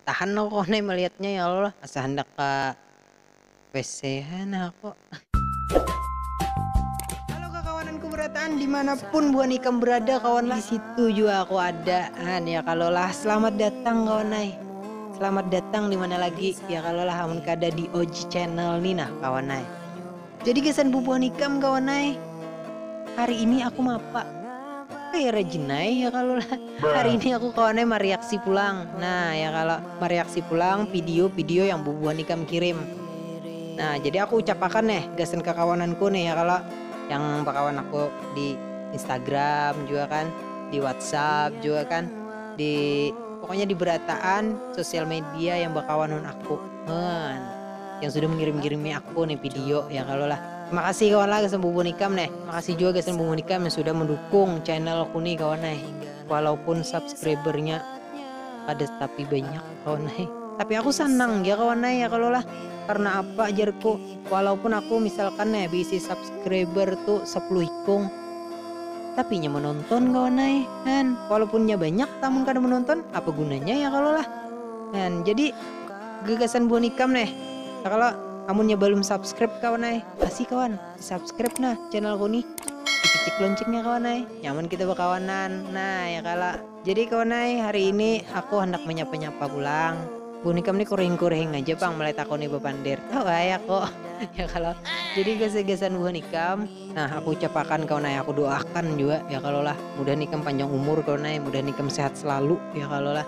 Tahan aku kawan ai melihatnya ya Allah asa handak ka WC ha nah aku. Kawananku berataan dimanapun buhan ikam berada kawan lah disitu jua aku ada han ya kalo lah selamat datang kawan ai selamat datang dimana lagi ya kalo lah amun kada di og channel ni nah kawan ai. Jadi gasan bubuhan ikam kawan ai. Hari ini aku mapa. Kaya rajin ai ya kalo lah. Hari ini aku kawan ai mariaksi pulang. Nah ya kalo, mariaksi pulang pidio pidio yang bubuhan ikam kirim. Nah jadi aku ucap akan neh gasan kakawananku nih ya kalo, yang bakawan aku di instagram jua kan, di whatsapp jua kan, di pokoknya di berataan sosial media yang bakawanan aku. Heuan. yang sudah mengirim-kirimi aku nih video ya kalau lah terima kasih kawan lah gasan bubun ikam nih makasih juga gasan bubun ikam yang sudah mendukung channel aku nih kawan nih walaupun subscribernya ada tapi banyak kawan nih tapi aku senang ya kawan nih ya kalau lah karena apa jarku walaupun aku misalkan nih bisi subscriber tuh 10 ikung tapi nya menonton kawan nih kan walaupun nya banyak namun kada menonton apa gunanya ya kalau lah kan jadi Gagasan buhan ikam neh. Ya kalo, amunnya balum subscribe kawan ai, kasih kawan, di subscribe nah channelku nih. Di picik loncengnya kawan ai, nyaman kita bakawanan. Nah, ya kalo. Jadi kawan ai, hari ini aku handak manyapa-nyapa pulang. Buhan ikam nih kurihing-kurihing aja pang mulai takuni bapander. Tahu ai aku. Ya kalo. Jadi gagasan buhan ikam, nah aku ucapakan kawan ai, aku doakan jua, ya kalo lah. Mudahan ikam panjang umur kawan ai, mudahan ikam sehat selalu, ya kalo lah.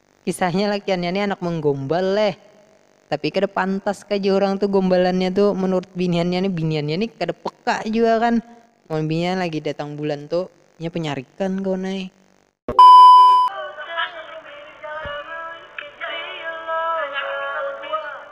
Kisahnya lakiannya nih anak menggombal leh, tapi kada pantas kah jar urang tuh gombalannya tuh menurut biniannya nih, biniannya nih kada peka jua kan, mun binian lagi datang bulan tuh inya penyarikan kawan ai.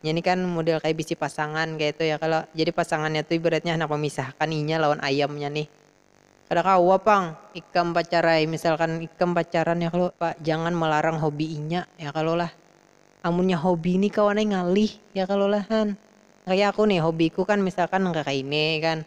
Inya ni kan mudel kaya bisi pasangan kayatu ya kalo, jadi pasangannya tu ibaratnya handak memisahkan inya lawan ayamnya nih. Kada kawa pang ikam pacarai, misalkan ikam pacaran ya kalo, jangan melarang hobi inya ya kalo lah. Amunnya hobi ni kawan ai ngalih ya kalo lah han. Kaya aku nih hobiku kan misalkan nang kakaini kan.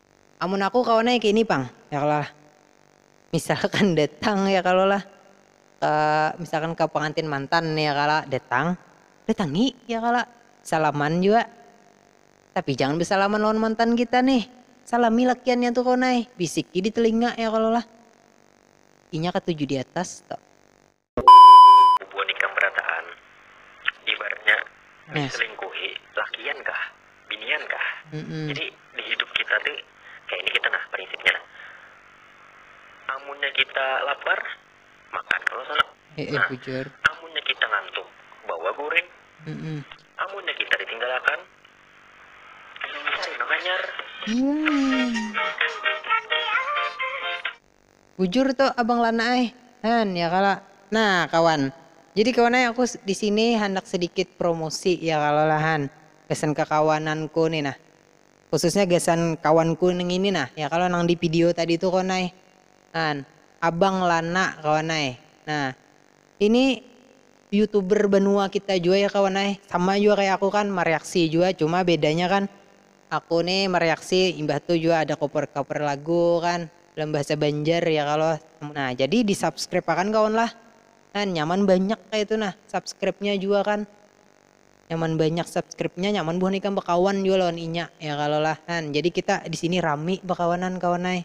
Amun aku kawan ai kaini pang ya kalo lah. Misalkan datang ya kalo lah ke misalkan ke pengantin mantan ya kalo datang datangi ya kalo salaman jua tapi jangan besalaman lawan mantan kita nih salami lakiannya tu kawan ai bisiki di telinga ya kalo lah inya katuju di atas tu. Bubuhan ikam berataan, ibaratnya diselingkuhi lakian kah, binian kah. Jadi di hidup kita tu kaya ini kita nah prinsipnya nah, amunnya kita lapar makan kalo sanak, nah amunnya kita ngantuk bawa guring, amunnya kita ditinggalakan cari nang hanyar. Bujur tu abang lana ai han ya kalo. Nah kawan, jadi kawan ai aku disini handak sedikit promosi ya kalo lah han gasan kekawananku ni nah, khususnya gasan kawanku nang ini nah ya kalo nang di pidio tadi tu kawan ai han, abang lana kawan ai nah ini youtuber banua kita jua ya kawan ai sama jua kaya aku kan mareaksi jua cuma bedanya kan Aku ni mereaksi imbah tu jua ada cover cover lagu kan dalam bahasa banjar ya kalo nah jadi di subscribe akan kawan lah kan nyaman banyak kaitu nah subscribe nya jua kan nyaman banyak subscribe nya nyaman buhan ikam bekawan jua lawan inya ya kalo lah kan jadi kita disini rami bekawanan kawan ai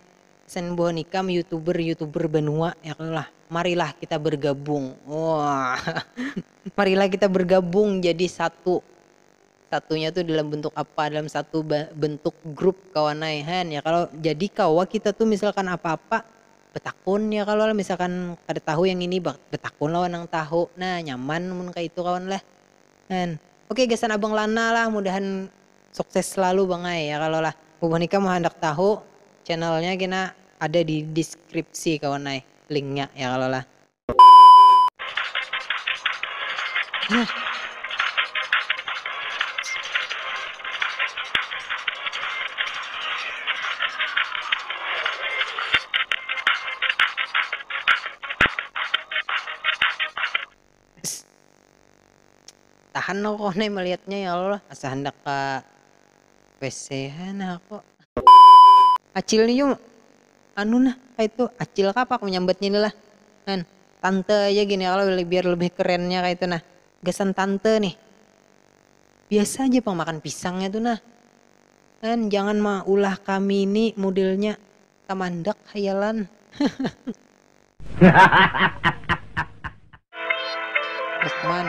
gasan buhan ikam youtuber youtuber banua ya kalo lah marilah kita bergabung oh marilah kita bergabung jadi satu. Satunya tu dalam bentuk apa dalam satu bentuk grup kawan ai han ya kalo jadi kawa kita tu misalkan apa apa betakun ya kalo lah misalkan kada tahu yang ini betakun lawan nang tahu nah nyaman mun kaya itu kawan lah han oke gasan abang lana lah mudahan sukses selalu bang ai ya kalo lah bubuhan ikam mun handak tahu channelnya kena ada di deskripsi kawan ai linknya ya kalo lah. tahan aku kawan ai melihatnya ya Allah asa handak ka WC ha nah aku. Acil ni jua anu nah kaitu acil kah apa aku manyambatnya ni lah kan tante aja gini kalo biar lebih kerennya kaitu nah gasan tante nih biasa aja pang makan pisangnya tu nah kan jangan maulah kami ni modelnya tamandak hayalan lukman.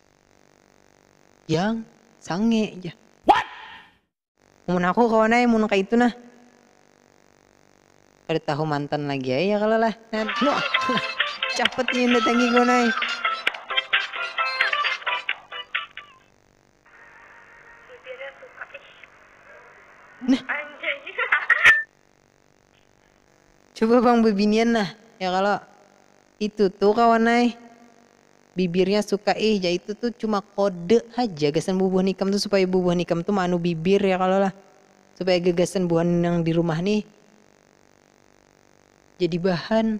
Jang, sange jar. Mun aku kawan ai mun kaitu nah. Kada tahu mantan lagi ai ya kalo lah. Capat nih mendatangi kawan ai. Nah. Coba pang bebinian nah, ya kalo. Itu tuh kawan ai, bibirnya suka ih ja itu tuh cuma kode haja gasan bubuhan ikam tuh supaya bubuhan ikam tuh maanu bibir ya kalo lah, supaya gagasan buhan nang di rumah nih jadi bahan.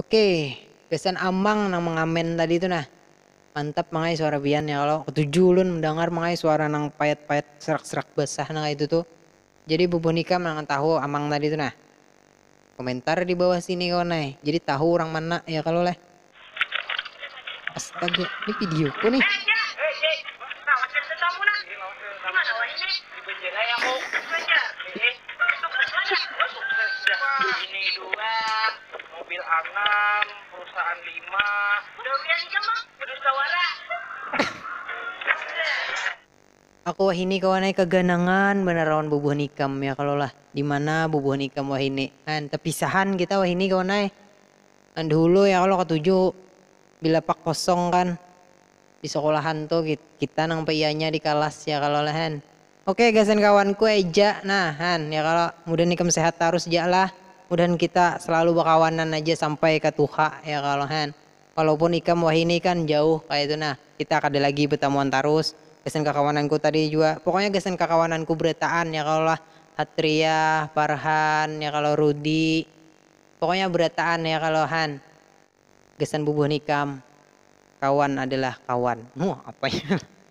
Okey gasan Amang nang mangamen tadi tu nah. Mantap mang ai suara pian ya kalo. Ketuju ulun mendangar mang ai suara nang payat-payat serak-serak basah nang kaya itu tu. Jadi bubuhan ikam nang tahu Amang tadi tu nah. Komentar di bawah sini kawan ai, jadi tahu urang mana ya kalo leh. Astaga, ni video ku nih. Aku wahini kawan ai kaganangan banar lawan bubuhan ikam ya kalo lah, dimana bubuhan ikam wahini an, tapisahan kita wahini kawan ai, nang dahulu ya kalo katuju bilapak kosong kan disekolahan tu kita nang paianya dikalas ya kalo lah han, ok gasan kawanku eja nah han ya kalo, mudahan ikam sehat tarus ja lah, mudahan kita selalu bakawanan aja sampai ka tuha ya kalo han. Walaupun ikam wahini kan jauh kaya itu nah, kita kada lagi betamuan tarus, gasan kakawananku tadi jua, pokoknya gasan kakawananku berataan ya kalo lah, Hatriah, Farhan, ya kalo Rudi, pokoknya berataan ya kalo han, gasan bubuhan ikam, kawan adalah kawan. Huh, apanya.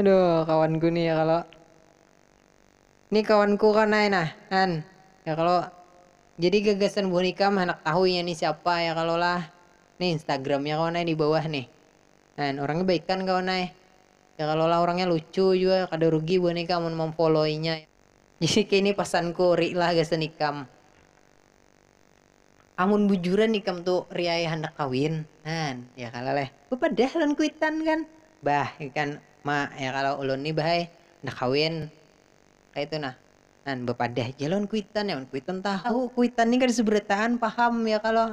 Aduh, kawanku nih ya kalau ini kawanku kan ay nah kan ya kalau jadi gagasan buhan ikam handak tahu inya nih siapa ya kalau lah nih instagramnya kawan ay di bawah nih kan orangnya baikan kawan ay ya kalau lah orangnya lucu jua kada rugi buhan ikam mun mamfollow inya jadi kini pasanku ori lah gasan ikam. Amun bujuran ikam tu riaya handak kawin, han, ya kalo leh, bapadah lawan kuitan kan, bah ikan ma ya kalo ulun ni bah ai handak kawin kaitu nah, han bapadah ja lawan kuitan, amun kuitan tahu, kuitan ni kada seberataan paham ya kalo.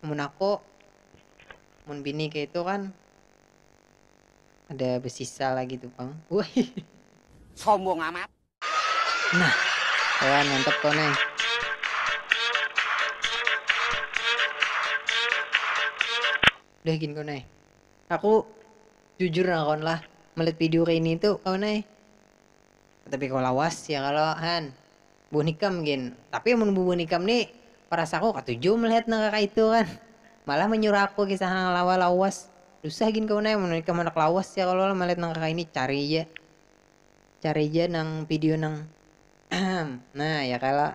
mun aku mun bini kayak itu kan ada bersisa lagi tuh bang wah sombong amat nah kawan mantep tuh nih udah gini kau nih aku jujur nah kawan lah melihat video kayak ini tuh kawan nih Tapi kawa lawas ya kalo han buah nikam gin. Tapi amun buah nikam ni parasaku katuju melihat nang kaka itu kan. Malah manyuruh aku kisah nang lawa lawas. Dusah gin kawan ai amun ikam handak lawas ya kalo lah melihat nang kaka ini cari ja cari ja nang video nang nah ya kalo.